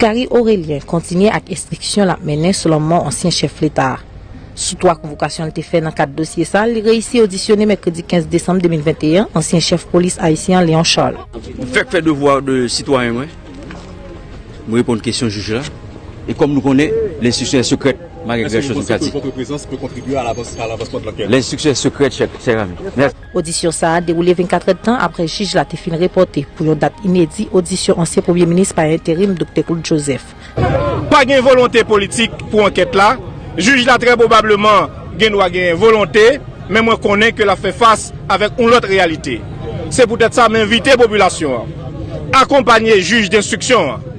Gary Orélien kontinye ak estriksyon lap mennen sou lanmò ansyen chèf leta a. Sou 3 konvokasyon li te fè nan kad dosye sa, li reyisi odisyone mèkredi 15 desanm 2021 ansyen chèf polis ayisyen an Léon Charles. M fèk fè devwa de sitwayen mwen, m reponn kesyon jij la, e kòm nou konnen lè enstriksyon è sekrèt, malgre grè chòz m ka di. Lè enstriksyon è sekrèt, chè ami. Odisyon sa a dewoule 24 èdtan aprè jij la te fin repòte pou yon dat inedi odisyon ansyen premye minis pa enterim Doktè Claude Joseph. Pa gen volonte politik pou ankèt la, jij la trè pwobableman gen dwa genyen volonte, men mwen konnen ke l ap fè fas avèk yon lòt reyalite. Se poutèt sa m envite popilasyon an akonpanye jij denstriksyon an.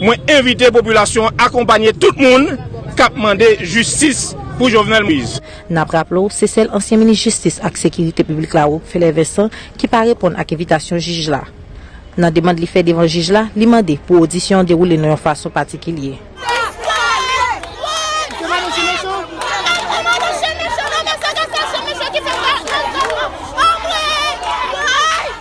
Mwen envite popilasyon an akonpanye tout moun k ap mande jistis pou Jovenel Moïse. N ap raple w, se sèl ansyen minis jistis ak sekirite piblik la Rockefeller Vincent ki pa reponn ak envitasyon jij la. Nan demand li fè devan jij la, li mande pou odisyon an dewoule nan yon fason patikilye.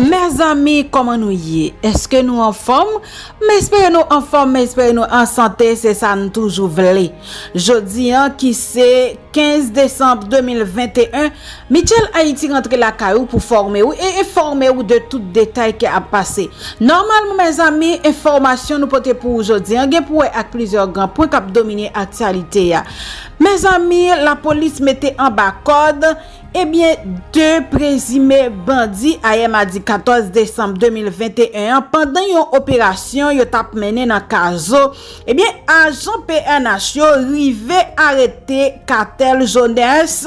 Mezanmi koman nou ye eske nou anfom m espere nou anfom m espere nou ansante se sa nou toujou vle jodi an ki se 15 desanm 2021 Mitchell Haiti rantre lakay ou pou fòme ou e enfòme ou de tout detay ke ap pase. Nòmalmn mezanmi enfòmasyon nou pote pou ou jodi an gen pou wè ak plizyè gran pwen kap domine aktyalite a. Mezanmi lapolis mete anba kòd ebyen 2 prezime bandi ayè madi 14 desanm 2021 an pandan yon operasyon yo tap mennen nan Kazo ebyen ajan pnh yo rive arete Cathel Jones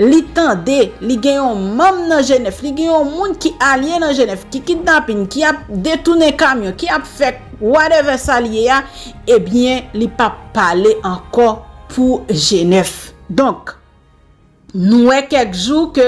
Li tande, li gen yon manm nan Jenèf, li gen yon moun ki alye nan Jenèf, ki kidnapin, ki ap detounen kamyon, ki ap fè whatever sa li ye a, ebyen li pa p pale ankò pou Jenèf. Donk, nou wè kèk jou ke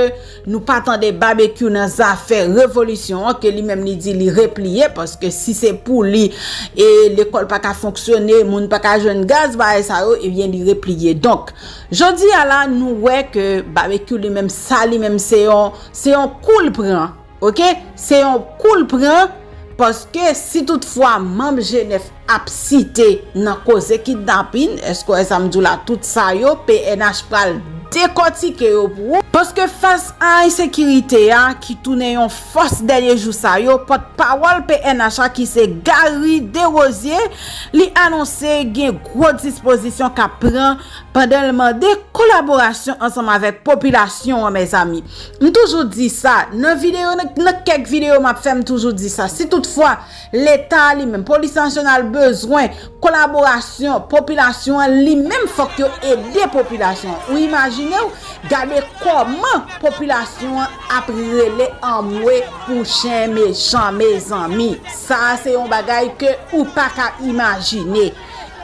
nou pa tande Babekyou nan zafè revolisyon an, ke li menm li di li repliye, paske si se pou li, e lekòl pa ka fonksyone, moun pa ka jwenn gaz, bagay sa yo, ebyen li repliye. Donk. Jodi a la nou wè ke Babekyou li menm sa li menm se yon se yon kou l pran ok se yon kou l pran paske si tout fwa manb G9 ap site nan koze kidnapin èske w wè sa m di w la tout sa yo pnh pral dekòtike yo pou ou paske fas a ensekirite a ki tounen yon fòs dènye jou sa yo pòt pawòl pnh a ki se Garry Derosier li anonse gen gwo dispozisyon k ap pran. pandan l mande kolaborasyon ansanm avèk popilasyon an mezanmi m toujou di sa nan videyo nan kèk videyo m ap fè m toujou di sa si tout fwa leta a li menm polis nasyonal bezwen kolaborasyon popilasyon an li menm fòk yo ede popilasyon an ou imajine w gade kòman popilasyon an ap rele anmwe pou chen mechan mezanmi sa a se yon bagay ke ou pa ka imajine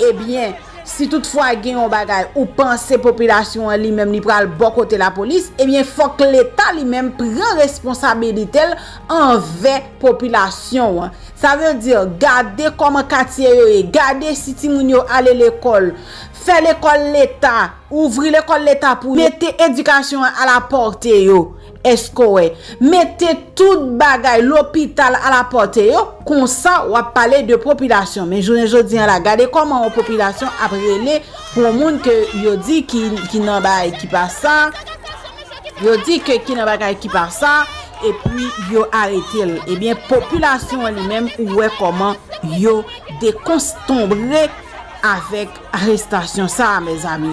ebyen. Si tout fwa gen yon bagay ou panse popilasyon an li menm li pral bò kote lapolis, ebyen fòk leta li menm pran responsabilite l anvè popilasyon an. Sa vle di gade kòman katye yo ye, gade si timoun yo ale lekòl, fè lekòl leta, ouvri lekòl leta pou yo, mete edikasyon an a la pòte yo. Escoe. Mete tout bagay lopital a la porte yo, konsa wap pale de popilasyon. Men jounen jodi an la, gade koman yon popilasyon ap rele pou yon moun ke yo di ki nan bagay ki pa sa, yo di ke ki nan bagay ki pa sa, e pi yo arete l. E byen popilasyon an li menm ou wè koman yo dekonstonbre avèk. arestasyon sa a mezanmi.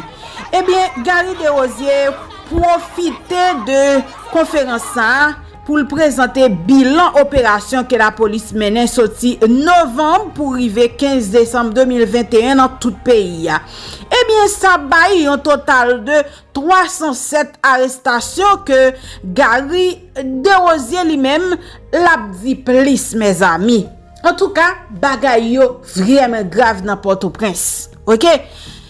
Ebyen Garry Desrosier pwofite de konferans sa a pou l prezante bilan operasyon ke lapolis mennen soti novanm pou rive 15 desanm 2021 nan tout peyi a. Ebyen sa bay yon total de 307 arestasyon ke Garry Desrosier li menm l ap di plis mezanmi. Antouka bagay yo vrèmen grav nan pòtoprens ok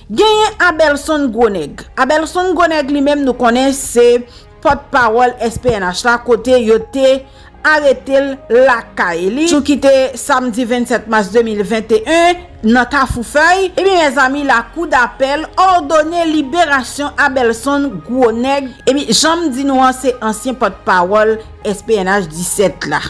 genyen abèlson gwonèg abèlson gwonèg li menm nou konnen se pòt pawòl SPNH la kote yo te aretel lakay li jou ki te samdi 27 mas 2021 nan kafou fèy ebyen mèzami lakou dapèl òdone liberasyon abèlson gwonèg ebyen janm di nou an se ansyen pòt pawòl SPNH 17 la.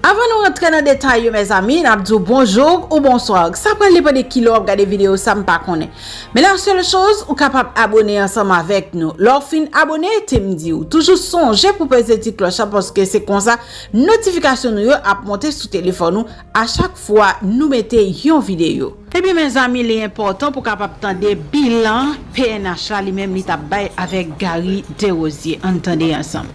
Avan nou rantre nan detay yo mezanmi nap diw bonjour ou bonsoir sa pral depan de kilè wap gade video sa mpa konnen men la seule chose ou kapab abone ansanm avèk nou lè w fin abone tem diw toujou sonje pou peze ti klòch la paske se konsa notification nou yo ap monte sou telefòn ou a chak fwa nou mete yon video. Ebyen mezanmi li enpòtan pou kapab tande bilan pnh la li menm li tap bay avèk Garry Desrosier ann tande ansanm.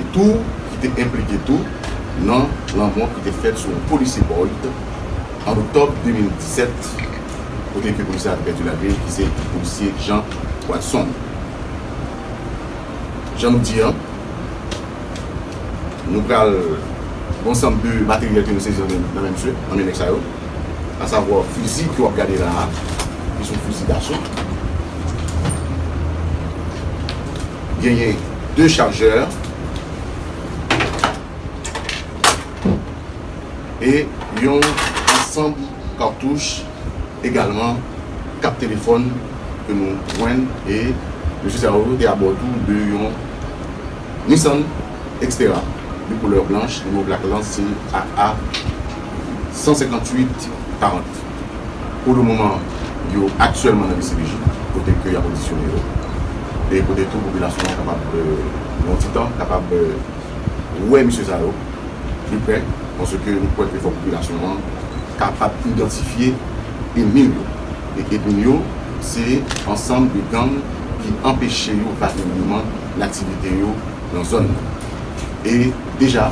e tou ki te enplike tou nan lanmò ki te fèt sou yon polisye Boyd an oktòb 2017 kote ke polisye a te pèdi lavi li ki se polisye Jean Watson. Jan nou di an, nou pral gen yon sanm de materyèl ke nou sezi nan men misye, nan men nèg sa yo, asavwa fizi ke wap gade la a ki se yon fizi daso. Genyen 2 chajè e yon ansanm katouch egalman 4 telefòn ke nou jwenn e mesye sa yo te abò tou de yon Nissan Xterra de koulè blanch, nimewo plak lan se AA 158 40. Pou le moman, yo aktyèlman nan dcpj, kote ke y ap odisyone yo, e kote tou popilasyon an kapab, nan yon ti tan, kapab wè mesye sa yo pli prè, paske nou kwè ke fòk popilasyon an kapab idantifye enmi l yo. E enmi l yo, se ansanm de gang ki anpeche yo valableman nan aktivite yo nan zòn nan. E deja,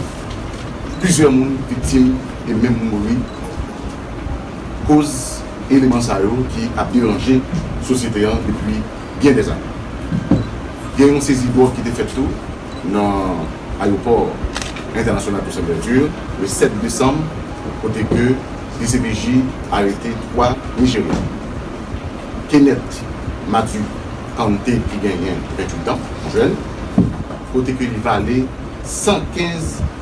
plizyè moun viktim e menm mouri. koz eleman sa yo ki ap deranje sosyete an depi byen dè ane. Gen yon sezi dwòg ki te fèt tou nan ayopò entènasyonal Toussaint Louverture le 7 desanm kote ke dcpj arete 3 Nijeryan, Kenneth Matthew Kante ki genyen 28 an, jèn, kote ke li vale 115.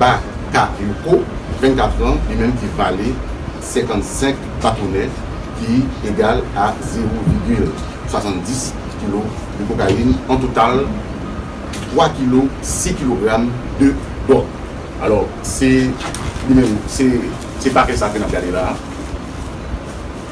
Bakayoko, 24 an, li menm ki vale 55 batonè ki egal a zewo vigil 70 kilo de kokayin, an total 3 kilo 6 kilogram de dòg. Alò, se li menm, se pakè sa ke n ap gade la a.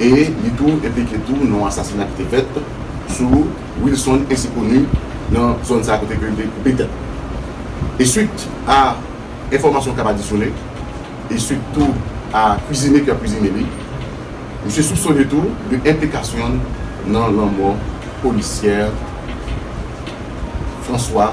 e li tou enplike tou nan yon asasina ki te fèt sou Wilson ensi koni nan zòn sa kote ke li te koupe tèt e swit a enfòmasyon kap adisyone e swit tou a kwizine ki ap kwizine li misye soupsone tou de enplikasyonn nan lanmò polisyè François.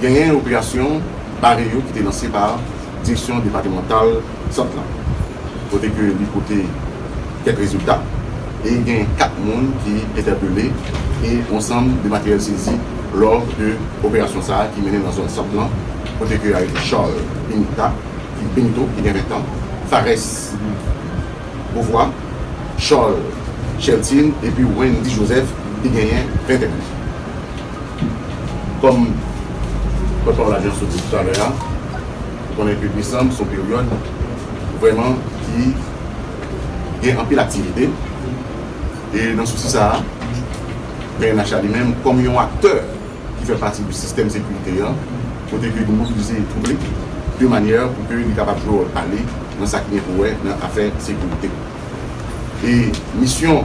Genyen yon operasyon bare yo ki te lanse pa direksyon depatemantal Sant lan, kote ke li pote kèk rezilta e gen 4 moun ki entèpele e yon sanm de materyèl sezi lò de operasyon sa ki mennen nan zòn Sant lan kote ke yo arete Charles Benita ki Benito ki gen 20 tan, Phares Beauvoir, Charles Cheltin epi Wendy Joseph ki genyen 21 tan. Kòm pòtpawòl Lajistis sot di toutale a, ou konnen ke desanm se yon peryòd vrèman ki gen anpil aktivite e nan sousi sa a, pnh la li menm kòm yon aktè ki fè pati de sistèm sekirite an, kote ke li mobilize twoup li de manyè pou ke li kapab jwe wòl pa li nan sa ki gen pou wè nan afè sekirite. E misyon.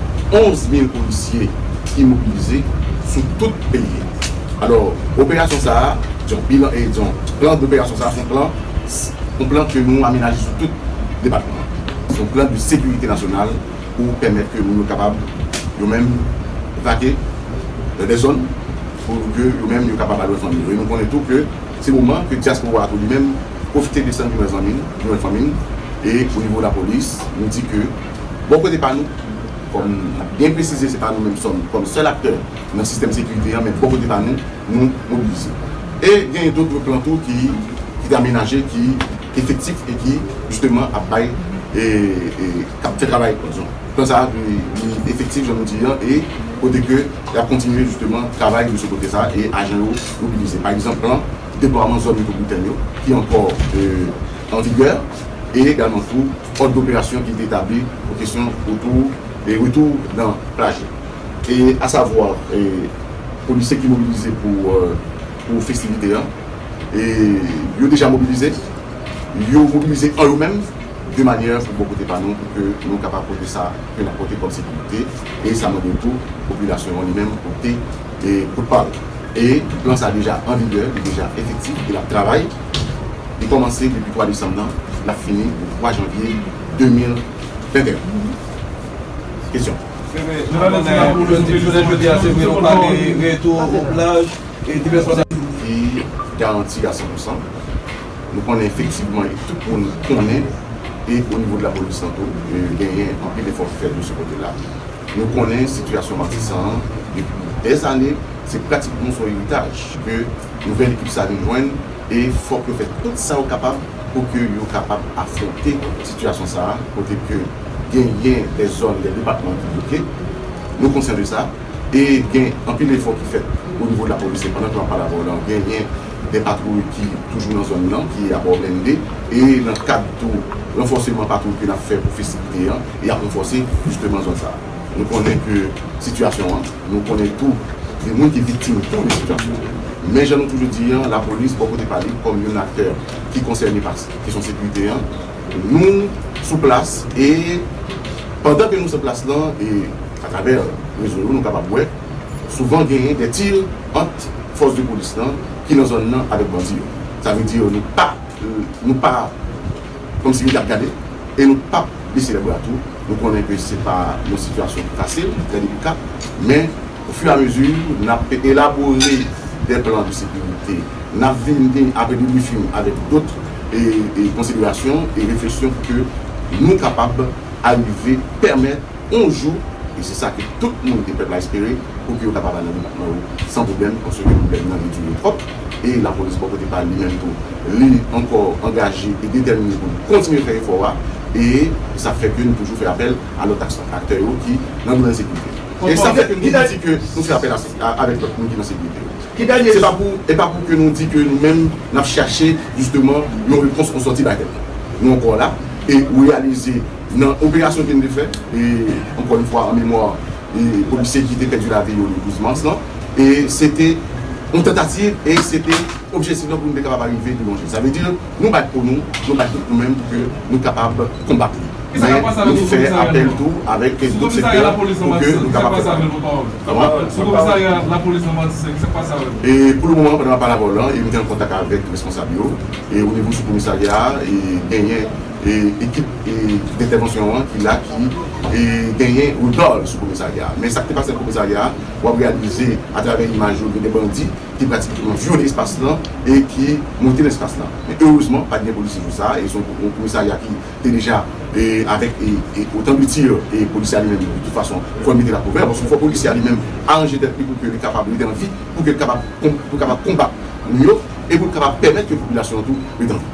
11 mil polisye ki mobilize sou tout peyi a. Alò, operasyon sa a, disons bilan e disons plan d'opération sa a, se yon plan, yon plan ke nou amenaje sou tout depatman an. Se yon plan de sekirite nasyonal pou pèmèt ke moun yo kapab yo menm vake dans des zones pou ke yo menm yo kapab al wè fanmi yo. E nou konnen tou ke se moman ke dyaspora a tou li menm pwofite desann vin wè zanmi l, vin wè fanmi l e o nivo lapolis nou di ke. Bò kote pa nou, kòm n ap byen presize se pa nou menm sòm kòm sèl aktè nan sistèm sekirite an men bò kote pa nou, nou mobilize. E gen dotre plan tou ki te amenaje ki efektif e ki jisteman ap bay e k ap fè travay zòn. Plan sa a li efektif jan nou di an e kote ke y ap kontinye jisteman travay de sou kote sa a e ajan yo mobilize. Pa egzanp plan deplwaman zòn metwoplitèn yo ki ankò an vigè e egalman tou. Òd doperasyon ki te tabli pou kesyon otou e retou nan plaj la. E a savwa polisye ki mobilize pou festivite an. E yo deja mobilize. Yo mobilize an yo menm de manyè pou bò kote pa nou pou ke nou kapab pote sa ke n ap pote kòm sekirite. E sa mande tou popilasyon an li menm pote kout pa l. E plan sa deja an vigè, li deja efektif e l ap travay. Li kòmanse depi 3 desanm nan, l ap fini le 3 janvye 2021. Kesyon? Fi garanti a 100 pousan. Nou konnen efektivman e tout moun konnen e o nivo de lapolis lan tou genyen anpil efò ki fèt de se kote la. Nou konnen sitiyasyon Matisan an depi dè zane, se pratikman son eritaj ke nouvèl ekip sa vin jwenn e fòk yo fè tout sa yo kapab pou ke yo kapab afwonte sitiyasyon sa a kote ke genyen dè zòn, dè depatman ki bloke. Nou konsyan de sa e gen anpil efò ki fèt o nivo de lapolis e pandan ke map pale avè w la genyen dè patwouy ki toujou nan zòn nan ki abò blende e nan kad tou ranfòseman patwouy ke nap fè pou festivite an. E yap ranfòse jisteman zòn sa. Nou konnen ke sitiyasyon an, nou konnen tou gen moun ki viktim tou de sitiyasyon an. Men jan nou toujou di an, lapolis bò kote pa li kòm youn aktè ki konsène pa kesyon sekirite an, nou sou plas e pandan ke nou sou plas lan e atravè rezo yo nou kapab wè souvan genyen dè tir ant fòs de polis lan ki nan zòn nan avèk bandi yo. Sa vle di nou pa nou pa. Kòm si nou tap gade e nou pap bese lè bra tou, nou konnen ke se pa yon sitiyasyon ki fasil, ki trè delika, men o fur et à mesure nap elabore des plans de sécurité, nap vin gen apre debriefing avèk dot konsiderasyon e refleksyon pou ke nou kapab arive pèmèt on jou, e se sa ke tout moun ke pèp la espere, pou ke yo kapab al nan depatman yo san pwoblèm, paske pwoblèm nan li dure twòp, e lapolis bò kote pa li menm tou. li ankò angaje e detèmine pou l kontinye fè efò a e sa fè ke nou toujou fè apèl a lòt aktè yo ki nan domèn sekirite a e sa fè ke nou di ke nou fè apèl avèk lòt moun ki nan sekirite yo se pa pou e pa pou ke nou di ke nou menm n ap chache jisteman yon repons an sòti bagay la nou ankò la e reyalize nan operasyon ke n te fè e ankò yon fwa an memwa e polisye ki te pèdi lavi yo le 12 mas lan e se te yon tantativ e se te. Objektif nou pou nou te kapab arive pi lwen ke sa. Sa vle di nou bat po nou, nou bat tout nou menm pou ke nou kapab konbat li. Men nou fè apèl tou avèk lòt sektè pou ke nou kapab fè sa. E pou le moman pandan map pale avè w lan e m te an kontak avèk responsab yo e o nivo sou komisarya a e genyen e ekip e dentèvansyon an ki la ki e genyen regard sou komisarya a. Men sa k te pase nan komisarya a wap reyalize atravè imaj yo gen de bandi ki pratike yon vyole espas lan e ki monte nan espas lan. Men erezman pat gen polisye jou sa a e se yon komisarya ki te deja avèk otan de tir e polisye a li menm de tout fason li konn mete la kouvè paske fò polisye a li menm aranje tèt li pou ke li kapab rete an vi pou ke l kapab konbat moun yo e pou l kapab pèmèt ke popilasyon an tou rete an vi.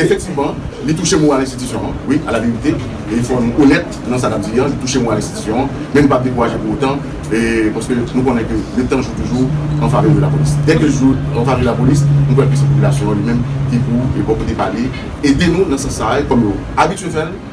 Efektivman, li touche moral enstitisyon an, wi, alaverite, e fò nou onèt nan sa n ap di an, li touche moral enstitisyon an, men nou pa p dekouraje pou otan, paske nou konnen ke le tan jou toujou an favè de lapolis. Dèke l jou an favè de lapolis, nou kwè ke se popilasyon an li menm ki pou, bò kote pa li, ede nou nan sans sa a, kòm yo abitye fè l.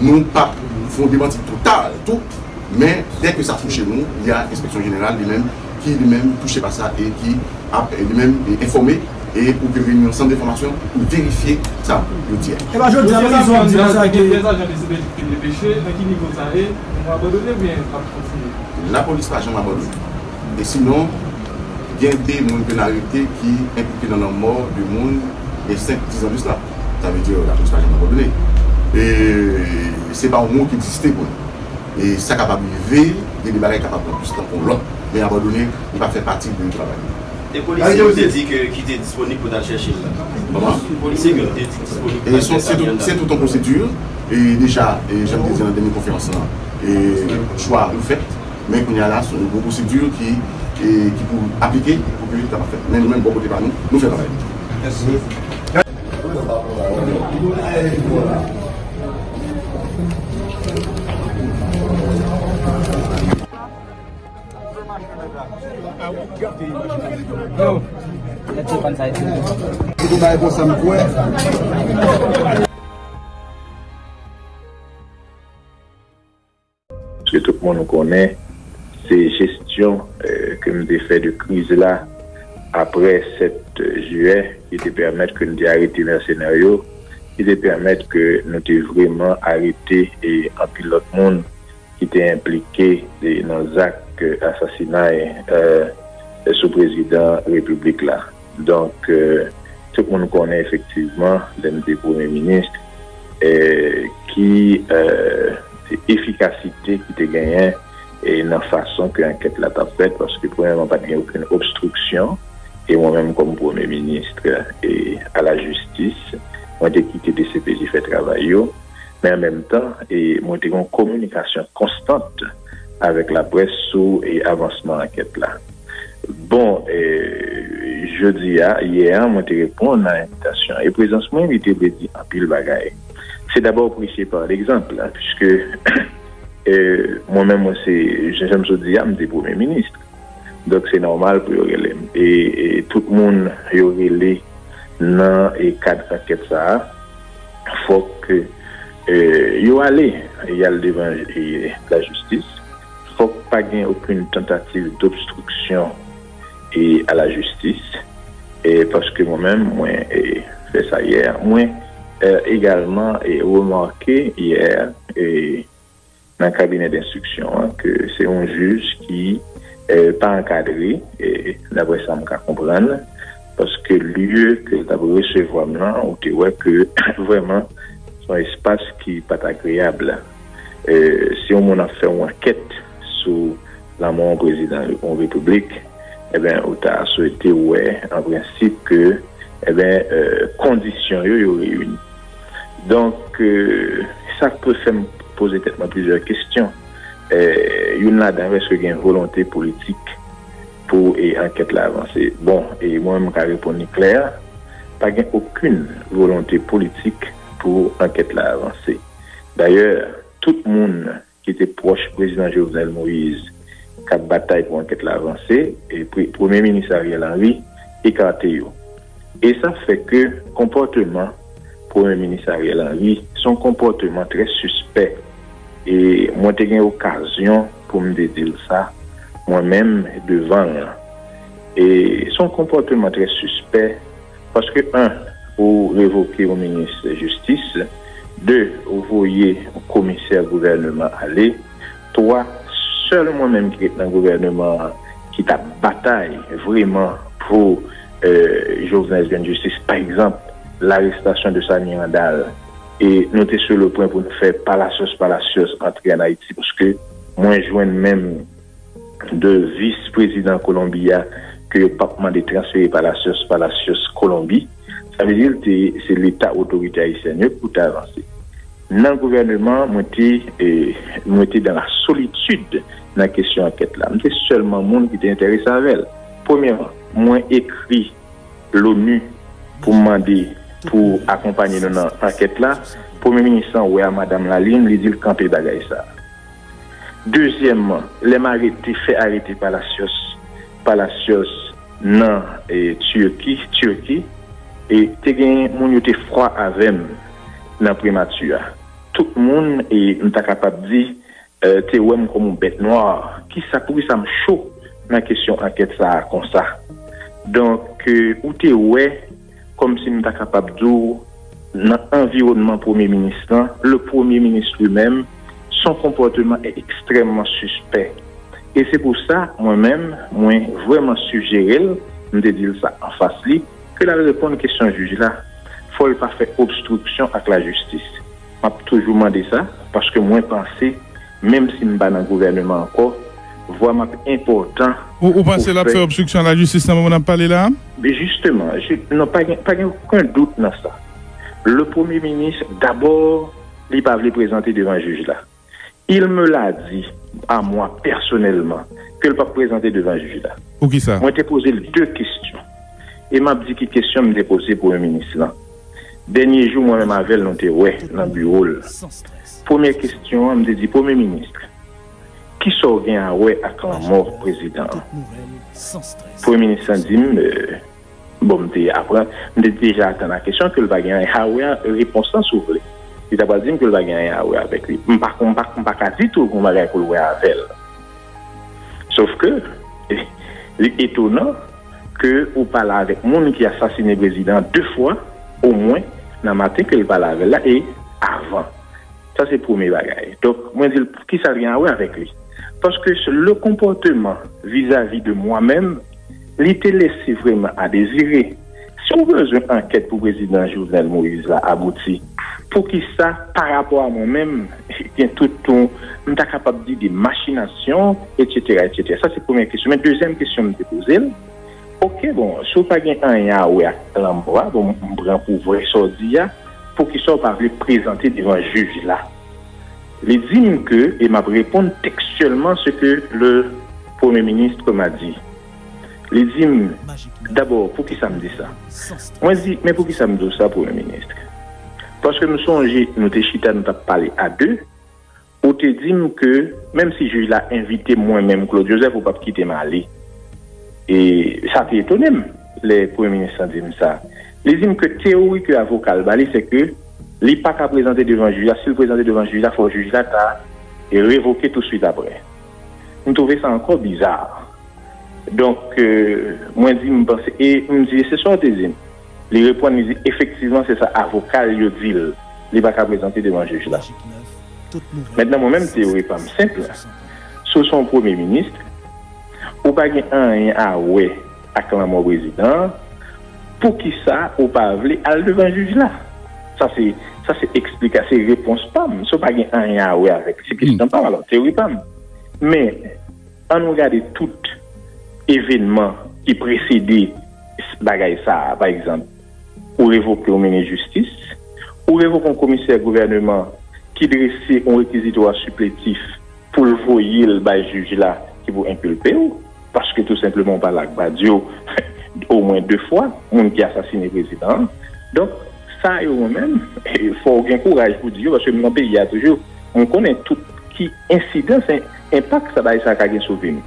nou pa fon demanti total tou, men dè ke sa touche nou, y a enspeksyon jeneral li menm ki li menm touche pa sa e ki ap li menm enfòme e pou ke vini yon sant enfòmasyon pou verifye sa yo di a. Epa jodi a Moyiz Wam di pa sa ke. Dèz ajan DCPJ te depeche, nan ki nivo sa ye? Nou abandone oubyen nap kontinye? Lapolis pa janm abandone. E sinon, gen 2 moun ke n arete ki enplike nan lanmò 2 moun gen 5, 10 an de sla. Sa vle di lapolis pa janm abandone. E se pa yon mo ki egziste pou nou. E sa kapab rive, gen de bagay ki kapab pran plis tan ke yon lòt. Men abandone, li pa fè pati de travay nou. E polisye yo te di ke ki te disponib pou t'al chèche l la? Kòman? Polisye ke nou te di disponib pou t'al chèche Samuel la? Se tout yon pwosedire. E deja, jan m te di nan dènye konferans lan, chwa yo fèt. Men kounye a la, se yon gwo pwosedu ki pou aplike pou ke sa pa fèt. Men nou menm bò kote pa nou, nou fè travay nou. Ke tout moun konnen, se jesyon ke m te fè de kriz la apre 7 jiyè ki te pèmèt ke n te arete mèsenè yo, ki te pèmèt ke nou te vreman arete anpil lòt moun ki te enplike nan zak asasinay sou prezidan repiblik la. Donk, tout moun konnen efektivman lè m te premye minis ki efikasite ki te genyen nan fason ke ankèt la t ap fèt paske premyèman pa t gen okenn obstriksyon e mwen menm kòm premye minis a la jistis mwen te kite dcpj fè travay yo men an menm tan mwen te gen yon kominikasyon konstant avèk laprès sou avansman ankèt la. Bon, jodi a, yè a, mwen te reponn a envitasyon an. E prezans mwen, li te vle di anpil bagay. Se dabò preche pa legzanp, piske mwen menm mwen se, jan m sot di a, m te premye minis. Donk se nòmal pou yo rele m. E tout moun yo rele nan kad ankèt sa a, fòk yo ale, y al devan lajistis. Fòk pa gen okenn tantativ dobstriksyon a la jistis, paske mwen menm mwen fè sa yè, mwen egalman remake yè nan kabinè denstriksyon an ke se yon jij ki pa ankadre, daprè sa m ka konprann, paske lye ke l t ap resevwa m nan ou te wè ke vrèman se yon espas ki pa t agreyab. Si yon moun ap fè yon ankèt sou lanmò yon prezidan yon repiblik, enben ou ta swete wè an prensip ke enben kondisyon yo yo reyini. Donk sa k pou fè m poze tèt mwen plizyè kesyon. Youn ladan yo eske gen volonte politik pou ankèt la avanse? Bon, e mwen menm m ka reponn li klè, pa gen okin volonte politik pou ankèt la avanse. Dayè, tout moun ki te pwòch prezidan Jovenel Moïse k ap batay pou ankèt la vanse, premye minis Ariel Henry ekate yo. E sa fè ke konpòteman premye minis Ariel Henry se yon konpòteman trè sispè. E mwen te gen okazyon pou m te di l sa mwen menm devan l. E se yon konpòteman trè sispè. Paske 1 ou revoke yon minis jistis, 2 ou voye yon komisè gouvèneman ale, 3 sèl mwen menm ki ret nan gouvèneman an ki tap batay vreman pou Jovenel jwenn jistis pa egzanp larestasyon de sa Miranda l e nou te sou le pwen pou nou fè palasyos palasyos antre an Ayiti paske mwen jwenn menm 2 vis prezidan Kolonbi a ke yo pap mande transfere Palacios, Palacios Kolonbi, sa vle di l te se leta otorite ayisyèn yo pou ta avanse nan gouvèneman mwen te mwen te dan la solitid nan kesyon ankèt la m te sèlman moun ki te enterese avè l premyèman mwen ekri Lonu pou m mande pou akonpanye nou nan ankèt la premye minis lan wè a madam Lalime li di l kanpe bagay sa. Dezyèmman, lè m arete, fè arete Palacios, Palacios nan Turki, Turquie, e te gen moun yo te fwa avè m nan Primati a. Tout moun, e m ta kapab di, te wè m kòm yon bèt nwa. Kisa, poukisa m cho nan kesyon ankèt sa a konsa? Donk, ou te wè. Kòmsi m ta kapab di w, nan anviwònman Premye Minis lan, le Premier Ministre lui-même, son comportement est extrêmement suspect. E se pou sa, mwen menm, mwen vrèman sijere l, m te di l sa anfas li, ke l al reponn kesyon jij la. Fò l pa fè obstriksyon ak lajistis. M ap toujou mande sa, paske mwen panse menm si m pa nan gouvèneman ankò, vwa m ap enpòtan. Ou panse l ap fè obstriksyon a lajistis nan moman n ap pale la a? Jisteman, non pa gen pa gen oken dout nan sa. Le premye minis dabò li pa vle prezante devan jij la. Il me l'a di a mwa pèsonèlman ke l pap prezante devan jij la. Poukisa? Mwen te poze l de kesyon. E m ap di ki kesyon m te poze premye minis lan. Dènye jou mwen menm avè l nou te wè nan biwo l. Premye kesyon an m te di premye minis, ki sa w gen a wè ak lanmò prezidan an? Premye minis lan di m. Bon m te aprann, m te deja atann a kesyon ke l pa gen anyen a wè a repons lan si w vle. Li ta pral di m ke l pa gen anyen a wè avèk li. M pa m pa m pa ka di tou gen bagay pou l wè avè l. Sof ke li etonan ke ou pa la avèk moun ki asasine prezidan an 2 fwa omwen nan maten ke l pale avè l la e avan. Sa se premye bagay. Donk mwen di l poukisa l gen a wè avèk li. Paske le konpòteman vizavi de mwa menm. Li te lese vreman a dezire. Si ou bezwen ankèt pou prezidan Jovenel Moïse la abouti, poukisa parapò a mwen menm gen tout ton m ta kapab di de machinasyon etsetera etsetera. Sa se premyè kesyon. Men dezyèm kesyon m te poze l, ok bon si ou pa gen anyen a wè ak lanmò a, bon m pran pou vrè sa w di a, poukisa ou pa vle prezante devan jij la? Li di m ke, e m ap reponn tekstyèlman se ke le Premye Ministre m'a dit. Li di m, Dabò, poukisa m di sa? Mwen di, Men poukisa m di w sa, Premye Ministre? Paske m sonje nou te chita nou t ap pale a de, ou te di m ke menm si jij la envite m mwen menm, Claude Joseph, ou p ap kite m ale. E sa te etone m lè Premye Ministre lan di m sa. Li di m ke teyori ke avoka l ba li se ke li pa ka prezante devan jij la, si l prezante devan jij la fò jij la ta revoke touswit aprè. M twouve sa ankò biza. Donk mwen di m panse e m di e se sa w te di m? Li reponn li di efektivman se sa avoka l yo di l, li pa ka prezante devan jij la. Mentnan mwen menm teyori pa m senp, si w se yon premye minis ou pa gen anyen a wè, ak lanmò prezidan an, poukisa ou pa vle al devan jij la? Sa se, sa se eksplika, se repons pa m. Sa pa gen anyen a wè avèk li. Se kesyon pa m alò, teyori pa m. Men, an nou gade tout evenman ki presede bagay sa a. Pa egzanp, ou revoke yon minis jistis, ou revoke yon komisè gouvèneman ki drese yon rekiziwa sipletif pou l voye l bay jij la ki pou enkilpe ou. Paske tou senpleman ou pale ak Badio omwen 2 fwa, moun ki asasine prezidan an. Donk sa yo mwen menm fò ou gen kouraj pou di yo paske m nan peyi a toujou. Mwen konnen tout ki ensidans, enpak sa bagay sa ka gen sou vi m.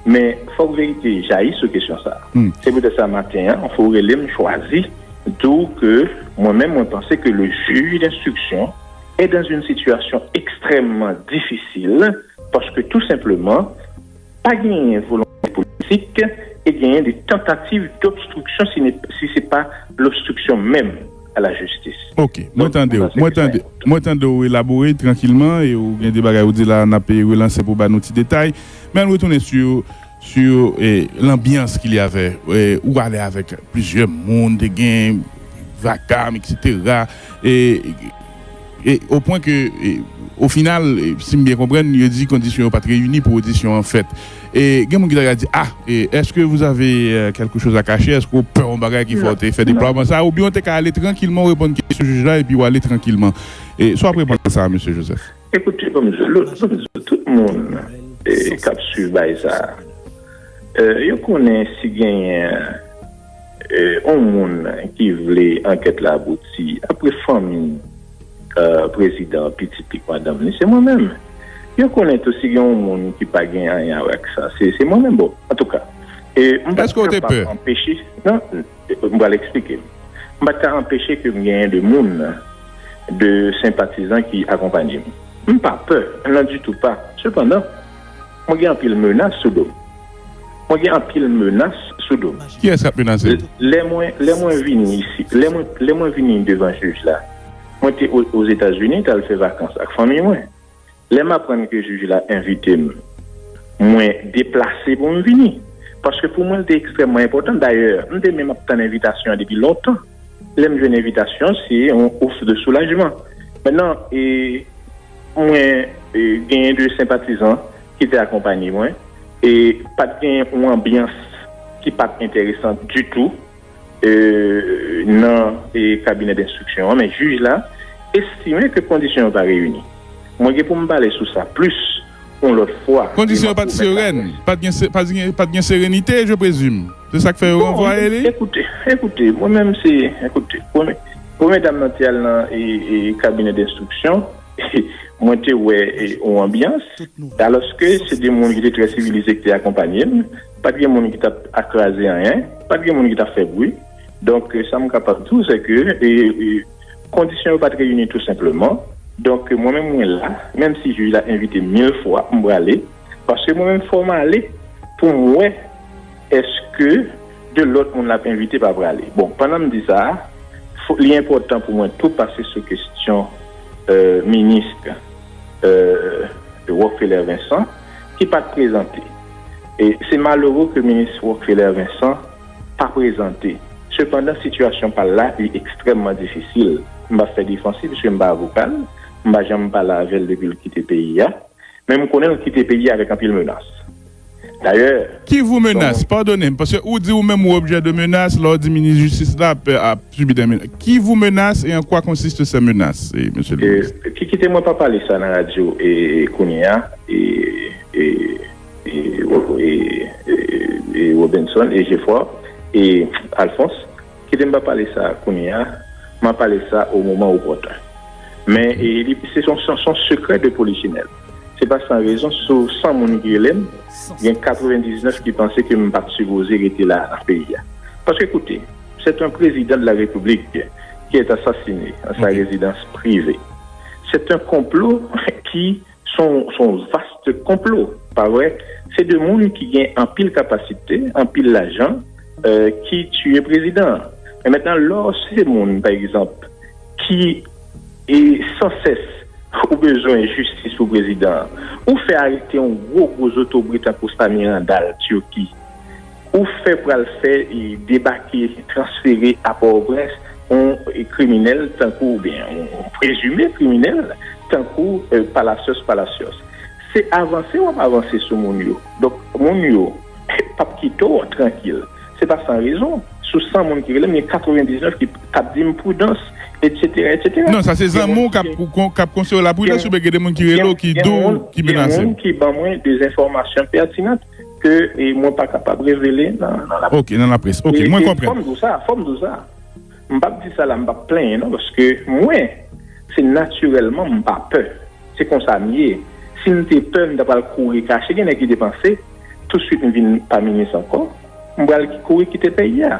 Men fòk verite jayi sou kesyon sa. Se poutèt sa maten an fò ou rele m chwazi di w ke mwen menm mwen panse ke le jij denstriksyon è dan zin sitiyasyon ekstrèmman difisil paske tou senpleman Pa genyen volonte politik e genyen de tantativ dobstriksyon si se pa lobstriksyon menm a la jistis. Ok, mwen tande w. Mwen tande w elabore trankilman e w gen de bagay ou di la a n ap relanse pou w ba nou ti detay. Men ann retounen sou lanbyans ki li avè ou ale avèk plizyè moun te gen vakam eksetera e. O pwen ke, o final, si m byen konprann, yo di kondisyon yo pa t reyini pou odisyon an fèt. E gen moun ki ta ka di, Ah! Eske vous avez quelque chose à cacher? Eske ou pè yon bagay ki fè w te fè deplwaman sa a? Oubyen ou te ka ale trankilman, ou reponn kesyon jij la epi ou ale trankilman. Sa w ap reponn a sa a, Mesye Joseph? Ekoute, banm di w, banm di w, tout moun k ap swiv bagay sa a, yo konnen si genyen, On moun ki vle ankèt la abouti apre fanmi prezidan an, pitit li k madanm li, se mwen menm. Yo konnen tou si gen on moun ki pa gen anyen a wè ak sa, se mwen menm. Bon, antouka, m pa t kapab anpeche, nan, m pral eksplike. M pa t ka anpeche ke m genyen de moun, de senpatizan ki akonpanye m. M pa pè, nan ditou pa. Sepandan. Mwen gen anpil menas sou do m. Mwen gen anpil menas sou do m. Kiyès k ap menase m? Lè mwen lè mwen vini isit lè mwen lè mwen vini devan jij la mwen te Ozetazini t al fè vakans ak fanmi mwen lè m aprann ke jij la envite m mwen deplase pou m vini paske pou mwen l te ekstrèmman enpòtan dayè m te menm ap tann envitasyon an depi lontan. Lè m jwenn envitasyon, se yon ouf de soulajman. Mètnan, mwen genyen de senpatizan ki te akonpanye mwen e pa t gen yon anbyans ki pa t enteresan ditou nan kabinè denstriksyon an. Men jij la estime ke kondisyon yo pa reyini. Mwen gen pou m pale sou sa plis. yon lòt fwa. Kondisyon yo pat serèn, pat gen serenite je presume, se sak fè yo ranvwaye li? Ekoute, ekoute, mwen menm se, ekoute, premye dam nan te al nan kabinè denstriksyon, mwen te wè yon anbyans, alòske se de moun ki te trè sivilize ki te akonpanye m, pat gen moun ki tap kraze anyen, pat gen moun ki tap fè bwi. Donk sa m kapab di w se ke kondisyon yo pa t reyini tou senpleman. Donk mwen menm mwen la, menm si jij la envite m mil fwa, m prale. Paske mwen menm fò m ale pou m wè èske de lòt moun l ap envite pa prale. Bon, pandan m di sa a, li enpòtan pou mwen tou pase sou kesyon minis Rockfeller Vincent ki pa t prezante. Se malere ke minis Rockfeller Vincent. pa prezante. Sepandan sitiyasyon pa l la li ekstrèmman difisil. M pa fè defansiv piske m pa avoka l, m pa janm pale avè l depi l kite peyi a. Men m konnen l kite peyi a avèk anpil menas. Dayè. Ki vo menas? Padone m, paske ou di ou menm ou objè de menas, lè w di minis jistis la ap sibi dè menas. Ki vo menas e an kwa konsiste sè menas, mesye le minis? Kite mwen pa pale sa nan radyo kounye a. Robinson e Geoffroy e Alphonse, kite m pa pale sa kounye a, m a pale sa o moman opòtun. Men se son sekrè de polichinèl. Se pa san rezon sou 100 moun ki rele m, gen 99 ki panse ke m pa t sipoze rete la nan peyi a. Paske koute, sèt an prezidan de la repiblik ki èt asasine an sa rezidans prive. Sèt an konplo ki. Son vaste konplo pa vre se de moun ki gen anpil kapasite anpil lajan ki tiye prezidan an men mentnan lò se moun pa egzanp ki e san sès ou bezwen jistis pou prezidan an ou fè arete yon gwo gwo zotobre tankou sa mirandal turki Ou fè pral fè debake transfere a Pòtoprens yon kriminèl tankou oubyen yon prezime kriminèl tankou Palacios Palacios. Se avanse w ap avanse sou moun yo. Donk moun yo p ap kite w trankil. Se pa san rezon. Sou 100 moun ki rele m gen 99 ki k ap di m prudans etsetera etsetera. Non sa se zanmi w k ap k ap konseye w la prudans oubyen gen de moun ki rele w ki di w ki menase w. Gen moun ki ban mwen de enfòmasyon pètinant. ke mwen pa kapab revele nan laprès. Ok, nan laprès. Ok, mwen konprann. Fò m di w sa, fò m di w sa. M pap di sa la, m pap plenyen non, paske mwen, se natirèlman m pa pè. Se konsa m ye. Si m te pè, m ta pral kouri kache. Gen nèg ki te panse, tousuit m vin pa minis ankò, m pral kouri kite peyi a.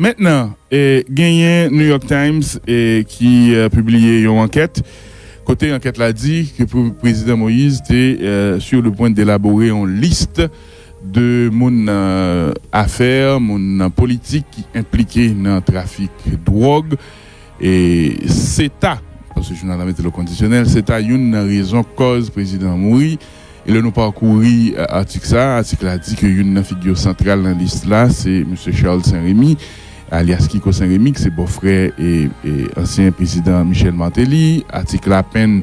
Mentnan, genyen New York Times ki pibliye yon ankèt, kote ankèt la di ke Prezidan Moïse te sur le point d'elaborer yon list de moun nan afè, moun nan politik ki enplike nan trafik dwòg. Se ta, paske jounal la mete l o kondisyonèl, se ta youn nan rezon kòz Prezidan an mouri. E lè nou pakouri atik sa a, atik la di ke youn nan figure santral nan lis la se Msye Charles Saint Remy, alyas Kiko Saint Remy, ki se bòfrè ansyen prezidan Michel Martelly. Atik la penn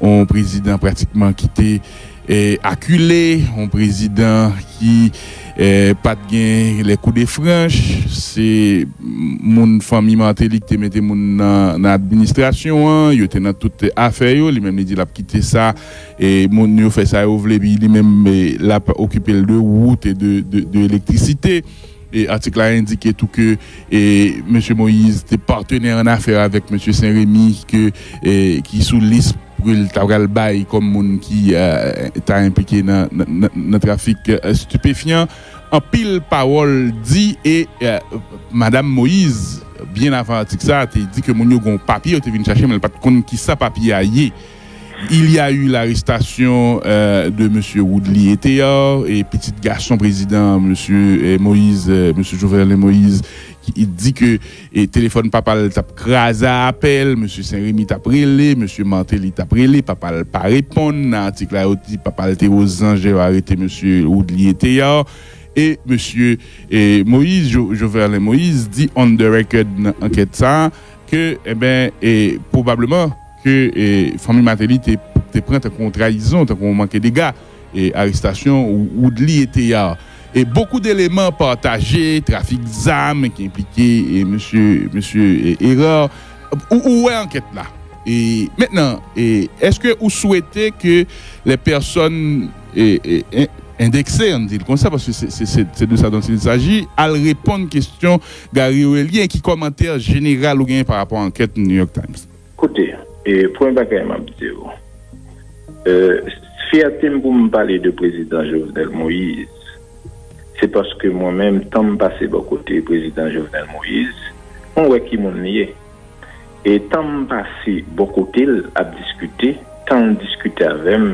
yon prezidan pratikman ki te akile, yon prezidan ki pa t gen les coups de franche. Se moun fanmi Martelly ki te mete moun nan administrasyon an, yo te nan tout afè yo. Li menm li di l ap kite sa. Moun yo fè sa yo vle epi li menm l ap okipe l de wout e de elektrisite. Atik la endike tou ke Mesye Moïse te patenè an afè avèk Mesye Sen Remi ki sou lis ke l ta pral bay kòm moun ki ta enplike nan trafik stipefyan. Anpil pawòl di e Madam Moïse byen avan atik sa te di ke moun yo gen yon papye yo te vin chache men l pa t konn kisa papye a ye. Il y a eu l'arrestation de Mesye Woodly Ethéard, pitit gason prezidan Mesye Moïse, Mesye Jovenel Moïse, ki di ke telefòn papa l tap kraze a apèl, Mesye Sen Remi tap rele, Mesye Martelly tap rele, papa l pa reponn, nan atik la yo di papa l te o Zanje yo arete Mesye Woodly Ethéard, e Mesye Moïse, Joverlin Moïse, di on the record nan ankèt sa ke, enben, pwobableman. ke fanmi Martelly te pran tankou yon trayizon, tankou yon manke dega, arestasyon Woodly et Théard. Bokou deleman pataje, trafik zam ki enplike mesye Hérard, ou wè ankèt la. Mentnan, eske ou swete ke lè pèsòn endekse, ann di l konsa, paske se de sa dont il saji, al reponn kestyon Gary Orelien, ki komantè jeneral ou genyen pa rapò ankèt New York Times? Koute, premye bagay m ap di ou, fyète m pou m pale de prezidan Jovenel Moïse, se paske mwen menm tan m pase bò kote prezidan Jovenel Moïse, mwen wè ki moun li ye. E tan m pase bò kote l ap diskite, tan l diskite avè m,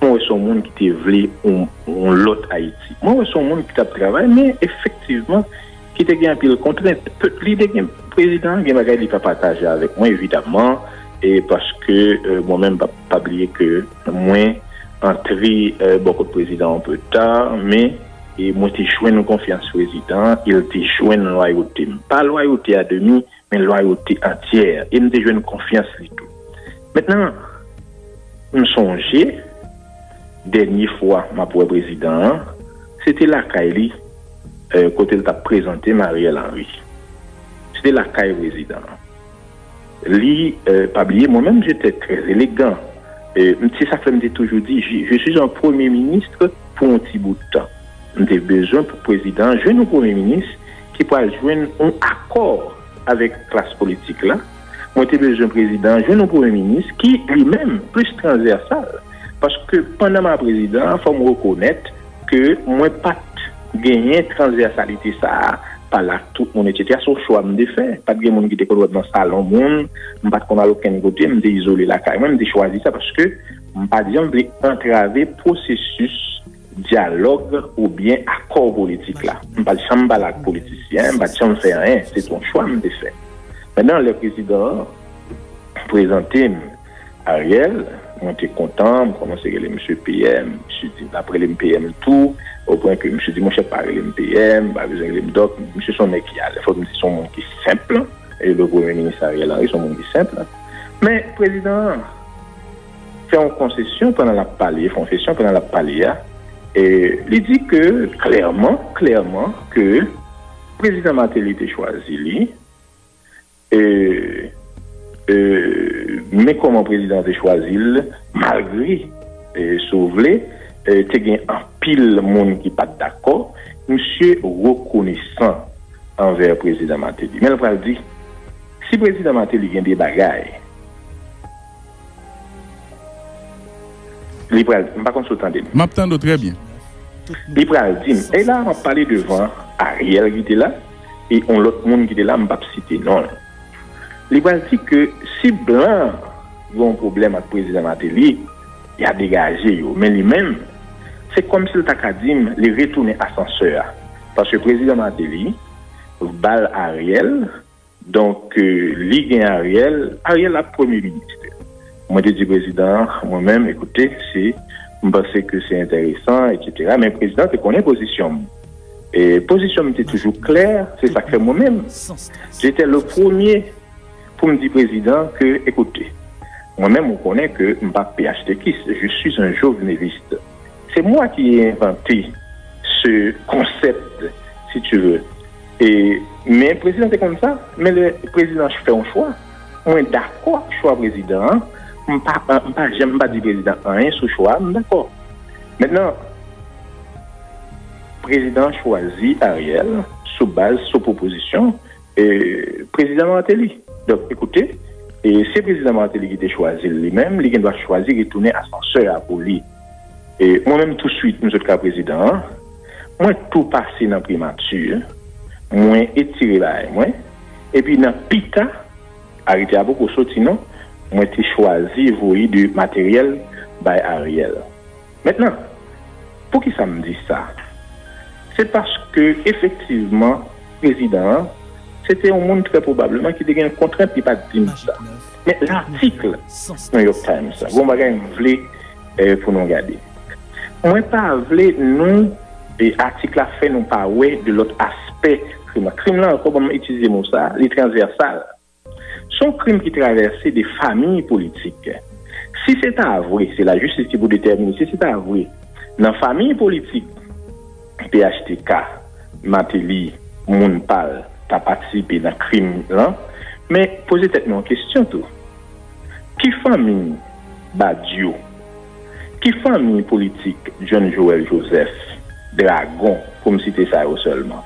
mwen wè se yon moun ki te vle yon lòt Ayiti. Mwen wè se yon moun ki t ap travay men efektivman, ki te gen anpil kontrent, li te gen, prezidan an gen bagay li pa pataje avèk mwen evidaman e paske mwen menm pa bliye ke mwen antre bò kot prezidan an anpe ta men mwen te jwenn konfyans prezidan e li te jwenn lwayote m, pa lwayote a demi men lwayote antyè, e m te jwenn konfyans li tou. Mentnan, m sonje, dènye fwa m ap wè prezidan an, se te lakay li, kote l t ap prezante m Ariel Henry. Se te lakay prezidan an. Li, pa bliye, mwen menm, je te trè elegan. Se sa k fè m te toujou di, je suis un premye minis pou yon ti bout tan. M te bezwen pou prezidan an jwenn yon premye minis, ki pral jwenn yon akò avèk klas politik la, mwen te bezwen prezidan an jwenn yon premye minis ki, li menm, plis transvèsal. Paske pandan m a prezidan an, fò m rekonèt ke mwen pa t genyen transvèsalite sa a, pale ak tout moun etsetera. Se yon chwa m te fè. Pa t gen moun ki te konn wè m nan salon moun, m pa t konn al okenn kote, m te izole lakay mwen. M te chwazi sa paske m pa t janm vle antrave pwosesis. Dyalòg oubyen akò politik la. M pa t janm pale ak politisyen, m pa t janm fè anyen. Se te yon chwa m te fè. Mètnan lè prezidan an prezante m Ariel, mwen te kontan, m kòmanse rele misye PM, misye di l ap rele m PM tou, opwen ke misye di monchè pa rele m PM, m pa bezwen rele m Dòk, misye se yon nèg ki alèz, fòk m di se yon moun ki senpl. E le premye minis Ariel Henry se yon moun ki senpl. Men prezidan an. fè yon konsesyon pandan l ap pale, konfesyon pandan l ap pale a, li di ke klèman, klèman ke Prezidan Martelly te chwazi li, e men kòman Prezidan an te chwazi l, malgre si w vle te gen anpil moun ki pa t dakò, misye rekonesan anvè Prezidan Martelly. Men l pral di, si Prezidan Martelly gen de bagay, Li pral di m, m pa konn si w tande m. M ap tande w trè byen. Li pral di m, e la a m ap pale devan Ariel ki te la e yon lòt moun ki te la m pap site non l. Li pral di ke si blan gen yon pwoblèm ak prezidan Martelly, ya degaje yo. Men li menm, se kòm si l ta ka di m li retounen asansè a. Paske prezidan Martelly ba l Ariel. Donk li gen Ariel, Ariel ap premye minis. Mwen te di prezidan an mwen menm ekoute si m panse ke se enteresan eksetera men prezidan te konnen pozisyon m. E pozisyon m te toujou klè se sa k fè mwen menm je te le premye pou m di prezidan ke ekoute mwen menm ou konnen ke m pa phtk je suis un joveneliste. Se mwa ki envante se konsept si tu ve e men prezidan te konn sa men le prezidan fè yon chwa mwen dakò ak chwa prezidan an m pa m pa janm m pa di prezidan anyen sou chwa a m dakò mennan prezidan chwazi Ariel sou baz sou pwopozisyon. Prezidan Martelly. Donk, ekoute, se Prezidan Martelly ki te chwazi l li menm, li gen dwa chwazi retounen asansè a pou li. Mwen menm touswit m sot ka Prezidan an, mwen tou pase nan Primati, mwen etire bagay mwen, epi nan pita, arete a poko soti non, mwen te chwazi voye de materyèl bay Ariel. Mentnan, poukisa m di sa? Se paske efektivman prezidan an se te yon moun trè pwobableman ki te gen kontrent li pa t di m sa. Men latikl New York Times la, gen yon bagay m vle pou nou gade. Mwen pa vle nou atik la fè nou pa wè de lòt aspè krim la. Krim la ankò, ban m itilize mo sa, li transvèsal. Se yon krim ki travèse de famiy politik. Si se ta vre, se lajistis ki pou detèmine, si se ta vre nan famiy politik phtk, Mateli, moun pa l, ta patisipe nan krim lan, men poze tèt nou yon kesyon tou, ki famiy Badio, ki famiy politik Jhon Joel Joseph, Dragon, pou m site sa yo sèlman?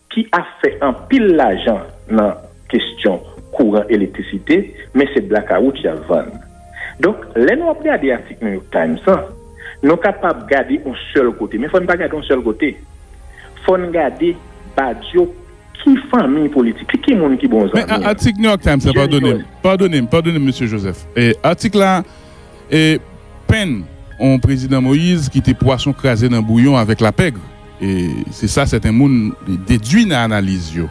ki ap fè anpil lajan nan kestyon kouran elektrisite, men se blakawout y ap vann. Donk, lè nou ap gade atik New York Times lan, nou kapab gade yon sèl kote, men fò n pa gade yon sèl kote. Fò n gade badyo ki fanmi politik li, ki moun ki bon zanmi li. Men atik New York Times la, padone m, padone m, padone m, Mesye Joseph, atik la. E pen on prezidan Moïse ki te pwason kraze nan bouyon avèk lapègre. E se sa sèten moun dedwi nan analiz yo.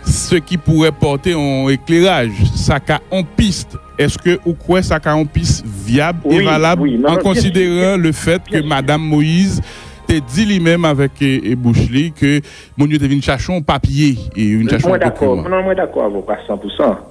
Se ki pourè pòte on ekleraj, sa ka on pist. Èske ou kwè sa ka on pist vyab e valab an konsideran le fèt ke madam Moïse te di li menm avèk bouch li ke moun yo te vin chache on papye, yo vin chache on dokiman? Mwen dakò avè w pa san pou san.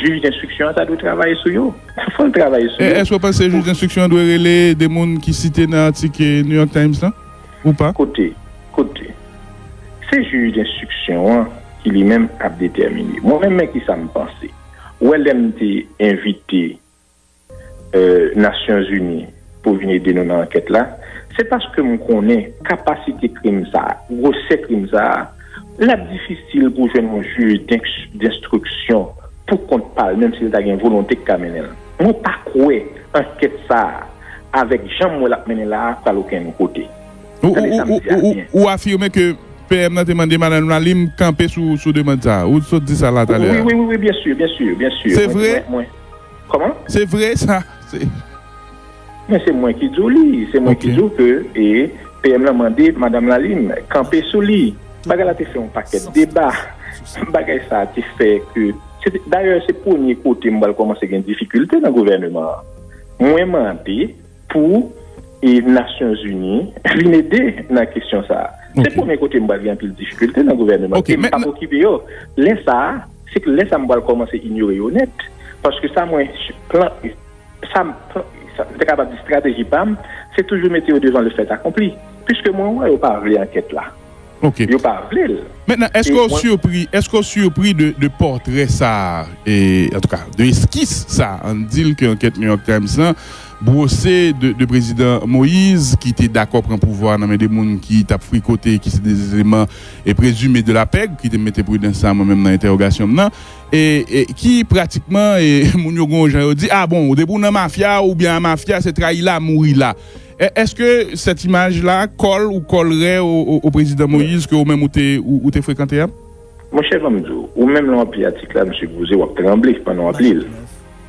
Jij denstriksyon an ta dwe travaye sou yo. Fò l travaye sou yo. Èske w panse jij denstriksyon an dwe rele de moun ki site nan atik New York Times lan ou pa? Koute, koute. Se jij denstriksyon an ki li menm ap detèmine. Mwen menm men ki sa m panse. Ou wè lè m te envite. Nasyon Zini pou vin ede nou nan ankèt la, se paske m konnen kapasite krim sa a, gwosè krim sa a, l ap difisil pou jwenn yon jij denstriksyon pou kont pa l, menm si l ta gen volonte ki ka mennen l. Mwen pa kwè ankèt sa a, avèk jan m wè l ap mennen la a, pral okenn kote. Tande sa m di a byen. Ou afime ke PM nan te mande Madan Lounalim kanpe sou demand sa a. Ou sot di sa la talè a. Wi, wi, wi, byensi, byensi, byensi. Se vre? Koman? Se vre sa, se. Men se mwen ki di w li, se mwen ki di w ke e PM lan mande Madam Lalime kanpe sou li. Bagay la te fè yon pakèt deba, bagay sa te fè ke, se te, dayè se premye kote m pral kòmanse gen difikilte nan gouvèneman an. Mwen mande Pou Nasyonzini vin ede nan kesyon sa a. Se premye kote m pral gen anpil difikilte nan gouvèneman an. E m p ap okipe yo. Lè sa a, se lè sa a m pral kòmanse inyore yo nèt. Paske sa mwen, plan, sa m ta kapab di estrateji pa m, se toujou mete yo devan le fèt akonpli. Piske mwen wè yo pa vle ankèt la. Ok. Yo pa vle l. Mentnan eske w surpri, eske w surpri de de portrait sa a e antouka de eskis sa a ann di l ke ankèt New York Times lan brose de de prezidan Moïse ki te dakò pran pouvwa a nan men de moun ki t ap frikote ki se de eleman e prezime de la pèg ki te mete pridans sa a mwen menm nan entèwogasyon m nan e e ki pratikman e moun yo gen yon jan yo di a bon depi w nan mafya oubyen a mafya se trayi la mouri la Eske set imaj la kol ou kol re o prezidan Moise ke ou menm ou te frekante a? Monchè banm di w, ou menm lè wap li atik la msye gouze wap tranble pandan wap li l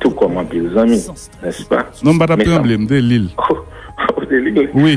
tou kòm anpil zanmi, nèspa? Non m pa tap tranble, m te li l. Ou te li l? Wi.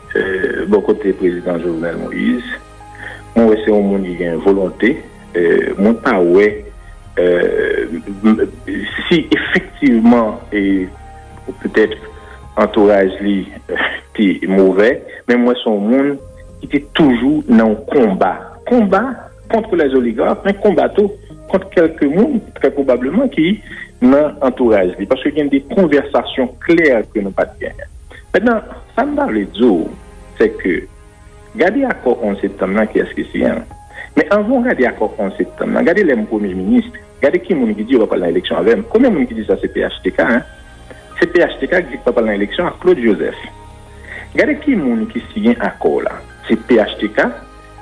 Bò kote Prezidan Jovenel Moïse, mwen wè se yon moun ki gen volonte. Mwen pa wè si efektivman petèt antouraj li te movè, men mwen wè se yon moun ki te toujou nan yon konba. Konba kont lè zoligark, men konba tou kont kèlke moun trè pwobableman ki nan antouraj li. Paske gen de konvèsasyon klè ke nou pa t genyen. Mètnan, sa m ta vle di w, sè ke gade akò 11 septanm lan kiyès ki siyen l. Men anvan w gade akò 11 septanm lan, gade lè m premye minis, gade ki moun ki di yo pa pral nan eleksyon avè m. Konbyen moun ki di sa se phtk? Se phtk ki di yo pa pral nan eleksyon ak Claude Joseph. Gade ki moun ki siyen akò w la. Se phtk.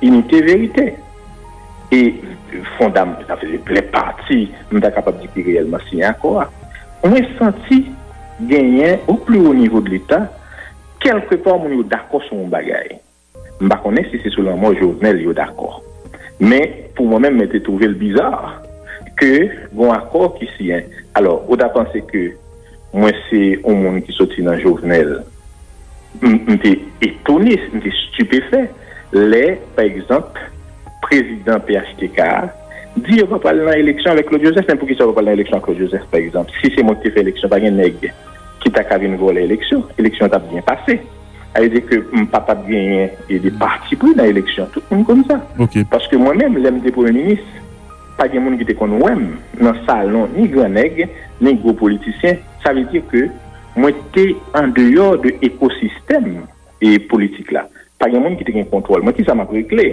Inite verite e fondam sa vle di lè pati m ta kapab di ki reyèlman siyen akò a mwen santi genyen o pli wo nivo de leta kèlke pa moun yo dakò sou yon bagay m pa konnen si se sou lanmò Jovenel yo dakò men pou mwen menm mwen te twouve l biza ke gon akò ki siyen alò ou ta panse ke Mwen se yon moun ki soti nan Jovenel. M te etone, m te stupefè lè, pa egzanp, prezidan phtk a di yo pa pral nan eleksyon avèk Claude Joseph. Men poukisa yo pa pral nan eleksyon ak Claude Joseph, pa egzanp? Si se mwen ki te fè eleksyon, pa gen nèg ki ta ka vin vòlè eleksyon. Eleksyon an t ap byen pase. Sa vle di ke m pa t ap genyen de patipri nan eleksyon. Tout moun konn sa. Paske mwen menm, lè m te premye minis, Pa gen moun ki te konn wè m nan salon ni gran nèg, ni gwo politisyen. Sa vle di ke mwen te an deyò de ekosistèm politik la. Pa gen moun ki te gen kontwòl mwen. Kisa m ap regle?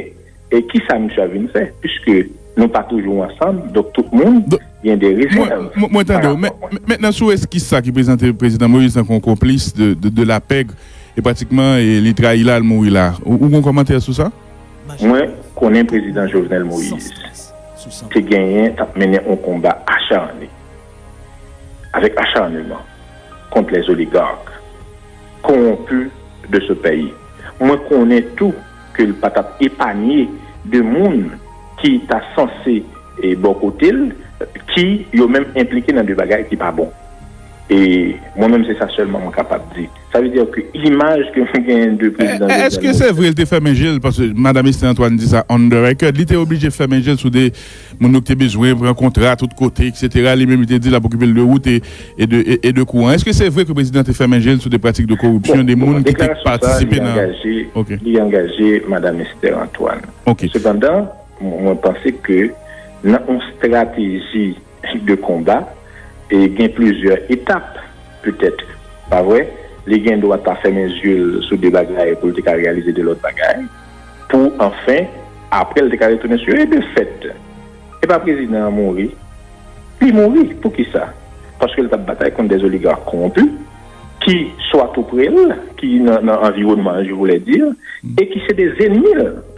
E kisa misye ap vin fè? Piske nou pa toujou ansanm, donk tout moun gen de rezèv. Mwen tande w. Men, nan sou eskis sa ki prezante Prezidan Moïse tankou yon konplis de la pègre, e pratikman li trayi la, li mouri la. Ou gen yon kòmantè sou sa? Mwen konnen Prezidan Jovenel Moïse te genyen tap mennen on konba acharne, avèk acharneman, kont les oligarques corrompus de ce payi. Mwen konnen tou ke l pa tap epanye de moun ki ta sanse bò kote l, ki yo menm enplike nan de bagay ki pa bon. E mwen menm se sa sèlman mwen kapab di. Sa vle dire ke imaj ke mwen genyen de prezidan Jovenel Moïse. Eske se vre li te fèmen je l paske madam Esther Antoine di sa on the record li te oblije fèmen je l sou de moun yo ki te bezwen pran kontra tout kote etc. Li menm li te di l ap okipe l de wout e de kouran. Eske se vre ke prezidan te fèmen je l sou de pratik de koripsyon de moun ki te patisipe nan. Li angaje madam Esther Antoine. Sepandan mwen panse ke nan on strateji. Tip de konba e gen plizyè etap petèt, pa vre? Li gen dwa ta fèmen zye l sou de bagay pou l te ka reyalize de lòt bagay, pou anfen apre l te ka retounen sou yo. E de fèt, e pa prezidan an mouri? Li mouri. Poukisa? Paske l t ap batay kont de oligark konwonpi ki swa tou pre l, ki nan anviwònman l, je voulais dire, e ki se de zennmi l.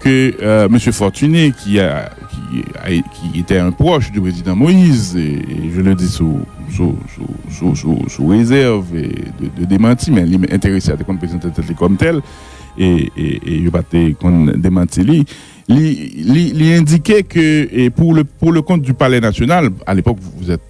ke Mesye Fortuné ki etè un proche de Prezidan Moïse, je le dis sous réserve de demanti, men li enterese a te konn prezante tèt li kòm tèl, e yo pa te konn demanti li, li endike ke pour le compte du palais national, à l'époque vous êtes.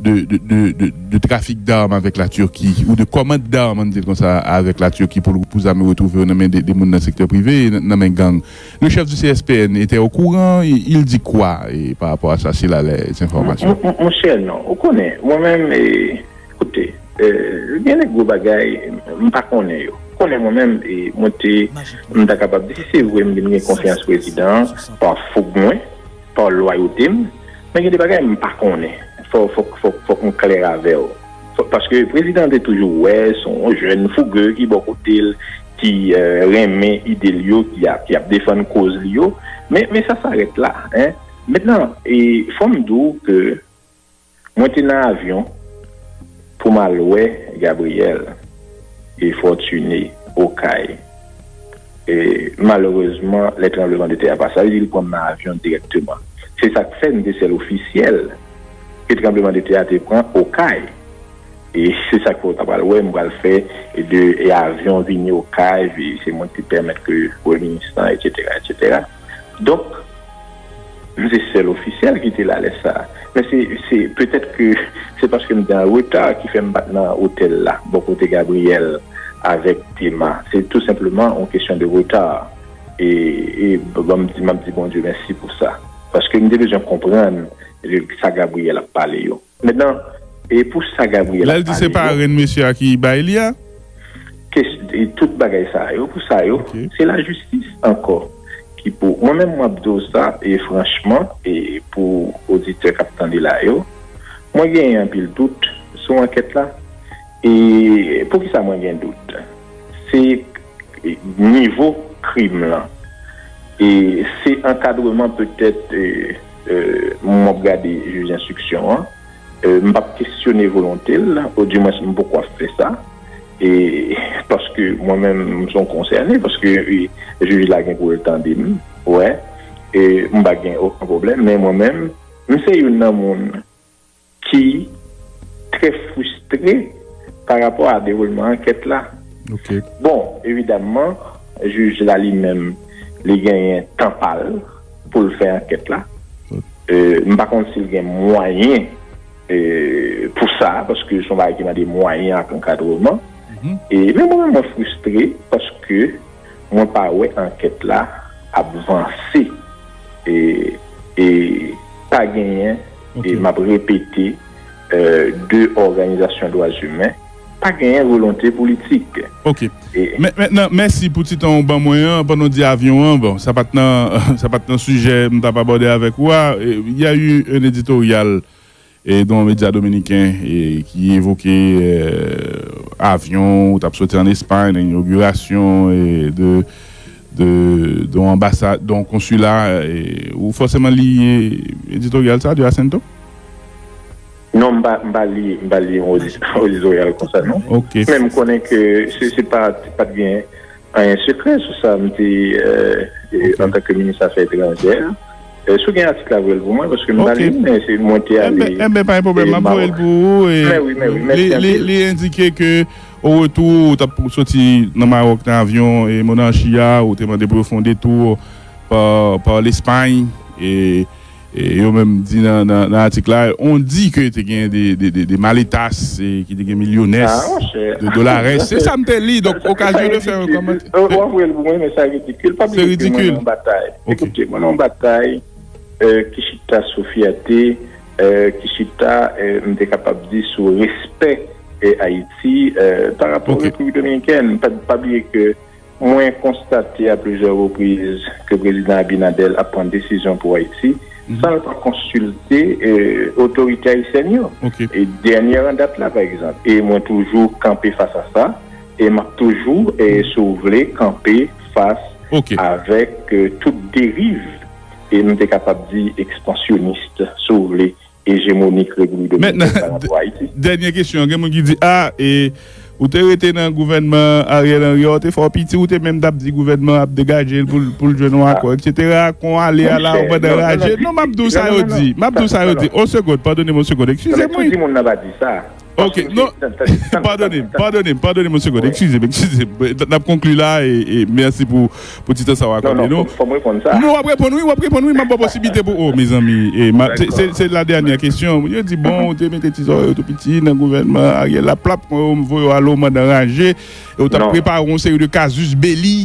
de trafic d'armes avèk la Turki ou de commande d'armes an n di l konsa avèk la Turki pou l pou zam yo retwouve yo nan men de moun nan sektè prive e nan men gang le chèf du CSPN etè o kouran il dit quoi par rapport a sa s'il a les informations? Mon chè non ou konnen mwen menm e koute gen de gwo bagay m pa konnen yo ou konnen mwen menm e mwen te m ta kapab di si se vre m vin gen konfyans prezidan an par fougue mwen par lwayote m Men gen de bagay m pa konnen fòk m klè avè w paske prezidan an te toujou wè s on jèn fouge ki bò kote l ki renmen ide l yo ki ap defann koz li yo men sa sarèt la mètnan fò m di w ke mwen te nan avyon pou m al wè Gabriel e Fortuné Okay. E malerezman, lè tranbleman de tè a pa sa, yo di l pran nan avyon dirèkteman. Se sa k fè nou te sèl ofisyèl ke tranbleman de tè a te pran Okay. E se sa k fè ou ta pral wè m pral fè de avyon vini Okay, se mwen ki te pèmèt ke Premye Minis lan, etsetera, etsetera. Donk. M se sèl ofisyèl ki te la lè sa a. Men se petèt ke se paske m te an reta ki fè m pa t nan otèl la bò kote Gabriyèl avèk Dema. Se tou senpleman yon kesyon de reta. E m ap di Bondye mèsi pou sa. Paske m te bezwen konprann sa Gabriyèl ap pale yo. Medan, e pou sa Gabriel ap pale yo? Lè l di se parenn mesye a ki bay li a? Kes, e tout bagay sa yo, pou sa yo? Se lajistis ankò ki pou, mwen menm map di w sa, e franchman, e pou oditè kap tande la yo, mwen genyen anpil dout sou ankèt la. E pou kisa mwen gen dout? Se nivo krim lan, e se ankadreman petèt, e. Moman m ap gade jij enstriksyon an, m p ap kesyone volonte l, odimwens m poko ap fè sa, paske mwen menm m s on konsène, paske jij la gen pou l tande m, wè, m pa gen oken pwoblèm, men mwen menm, m se youn nan moun. ki trè fristre pa rapò a dewoulman ankèt la. Bon, evidamman, jij la li menm, li genyen tan pa l pou l fè ankèt la. M pa konn si l gen mwayen pou sa, paske son bagay ki mande mwayen ak ankadreman. Men mwen menm mwen fristre paske mwen pa wè ankèt la ap vanse e pa genyen. E map repete, de òganizasyon dwa imen pa genyen volonte politik. Ok. Men nan, mèsi pou ti tan ou ban mwen an pandan w di avyon an. Bon, sa pat nan, sa pat nan sijè m tap abòde avèk ou a. Il y a eu un editorial dans un média dominicain qui évoquait avyon ou tap soti an Espagne nan inauguration de Don anbasad, don konsila, ou fòseman li editoryal sa a de Asento? Non, m pa li yon editoryal konsa non. Men m konnen ke se pa t gen anyen sekrè sou sa m te antanke minis afè etranjè. Si w gen atik la voye l pou mwen paske m pa li l men se mwen te ale. Enben pa gen pwoblèm m ap voye l pou ou. Mèsi anpil. Li endike ke O retou, ou t ap soti nan Maròk nan avyon monarchi a, ou te mande pou yo fè yon detou pa Lespay, e yo menm di nan atik la, on dit que te gen des maletas ki te gen millones de dolares, se sa m te li, donk okazyon de fè yon kòmantè. Ou ap voye l pou mwen, men sa ridikil, pa bliye ke mwen nan yon batay, ekoute, mwen nan yon batay ki chita sou fyète. Ki chita m te kapab di sou respè Ayiti pa rapò Repiblik Dominikèn? Pa bliye ke mwen konstate a plizyè repriz ke Prezidan Abinadèl ap pran desizyon pou Ayiti san l pa konsilte otorite ayisyèn yo. E dènyè an dat la pa egzanp. E mwen toujou kanpe fas a sa e m ap toujou, si w vle, kanpe fas avèk tout deriv. e nou te kapab di ekspansyonist, si w vle, ejemonik Repiblik Dominikèn pa nan do Ayiti. Dènye kesyon, gen moun ki di, a, e ou te rete nan gouvènman Ariel Henry a, ou te fè w piti, ou te menm t ap di gouvènman an ap degaje l pou l jwenn yon akò, eksetera, kon w ale a la ou pandan raje. Non, m ap di w sa yo di. M ap di w sa yo di. On segond, padone m on segond. Eskize m wi. Tout di moun nan pa di sa. Ok, non, padone m, padone m, padone m yon segonn, ekskize m, ekskize m, n ap konkli la e mèsi pou ti tan sa w akòde nou. Fò m reponn sa? Non, w ap reponn wi, w ap reponn wi, m ap ba w posiblite pou, o mezanmi, se la dènyè kesyon, moun yo di bon ou te mete ti zòrèy yo tou piti nan gouvènman Ariel la, plap, m voye w ale w mandan raje, e w t ap prepare yon seri de kazus beli.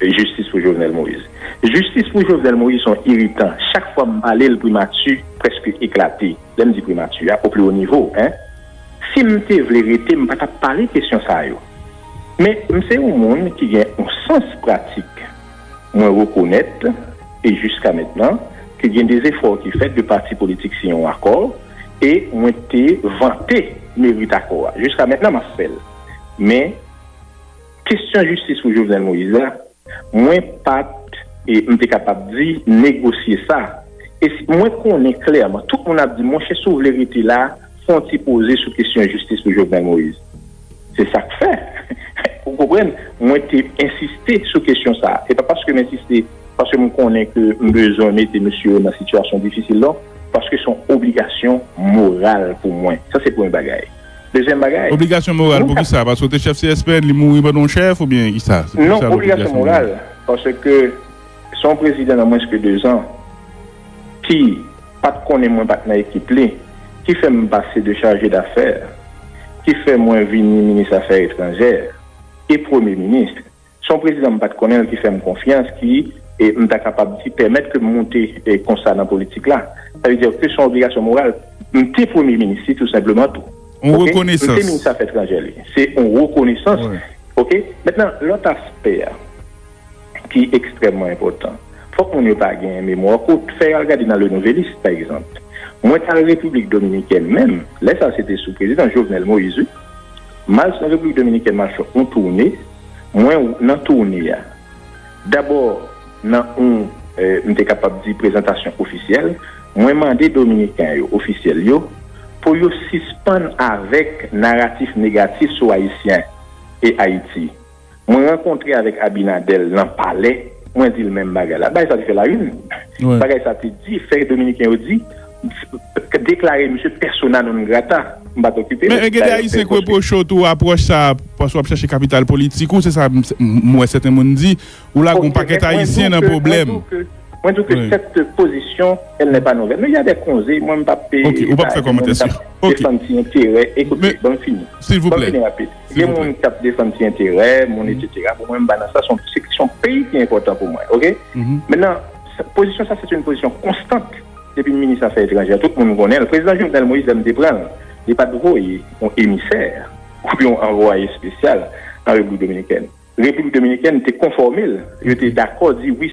Jistis pou Jovenel Moïse. Jistis pou Jovenel Moïse son iritan chak fwa m pale l primati preske eklate lè m di primati a opli wo nivo hein si m te vle rete m pa tap pale kesyon sa yo men m se yon moun ki gen yon sans pratik mwen rekonèt e jiska mentnan ke gen de zefò ki fèt de pati politik siyen yon akò e mwen te vante merit akò a jiska mentnan map fèl men. Kestyon jistis pou Jovenel Moïse la, mwen pat e m te kapab di negosye sa. E mwen konnen klèman, tout moun ap di monchè si w vle rete la, fè yon ti poze sou kestyon jistis pou Jovenel Moïse. Se sa k fè, ou konprann, mwen te ensiste sou kestyon sa. Se pa paske m ensiste paske m konnen ke m bezwen mete mesye yo nan sitiyasyon difisil non, paske se yon obligasyon moral pou mwen. Sa se premye bagay. Dezyèm bagay. Obligasyon moral pou kisa? Paske ou te chèf CSPN li mouri pandan ou chèf oubyen kisa? Non obligasyon moral paske se yon prezidan nan mwens ke 2 zan ki pat konnen mwen pat nan ekip li ki fè m pase de chaje dafè ki fè mwen vini minis afè etranjè e premye minis Se yon prezidan m pa t konnen l ki fè m konfyans, ki, m ta kapab di, pèmèt ke m moute konsa nan politik la. Sa vle di ke se yon obligasyon moral. M te premye minis li tou senpleman tou. Yon rekonesans. M te minis afè etranjè li. Se yon rekonesans. Ok? Mentnan, lòt aspè a ki ekstrèmman enpòtan, fòk moun yo pa gen memwa kout. Fè yo al gade nan Le Nouvelliste, pa egzanp. Mwen t al Repiblik Dominikèn menm, lè sa se te sou prezidan Jovenel Moïse wi. Miles nan Repiblik Dominikèn m ap fè yon toune, mwen nan toune a dabò nan yon m te kapab di prezantasyon ofisyèl, mwen mande dominiken yo, ofisyèl yo pou yo sispann avèk naratif negatif sou ayisyen e Ayiti. Mwen rankontre avèk Abinadèl nan palè, mwen di l menm bagay la. Bagay sa te fè la une. Bagay sa te di, fè Dominiken yo di, deklare misye persona non grata. M pa t okipe l. Men gen de Ayisyen k repwoche w tou apwòch sa a, paske w ap chèche kapital politik ou, se sa m wè sèten moun di. Ou lage yon pakèt Ayisyen nan pwoblèm. Mwen di w ke sète pozisyon, èl nè pa nouvèl. Men y a dè konze, mwen m p ap. Ok, ou p ap fè kòmantè sou. Defann ti enterè. Ekoute, ban m fini. Silvouplè. Ban m fini rapid. Gen moun ki ap defann ti enterè moun etc. Pou mwen m pa nan sa se yon peyi ki enpòtan pou mwen ok. Mennen pozisyon sa se te yon pozisyon konstant depi m minis afè etranjè tout moun konnen l. Prezidan Jovenel Moïse lè m te pran l li pa t voye yon emisè oubyen yon anvwaye espesyal an Repiblik Dominikèn. Repiblik Dominikèn te konfòme l yo te dakò di wi.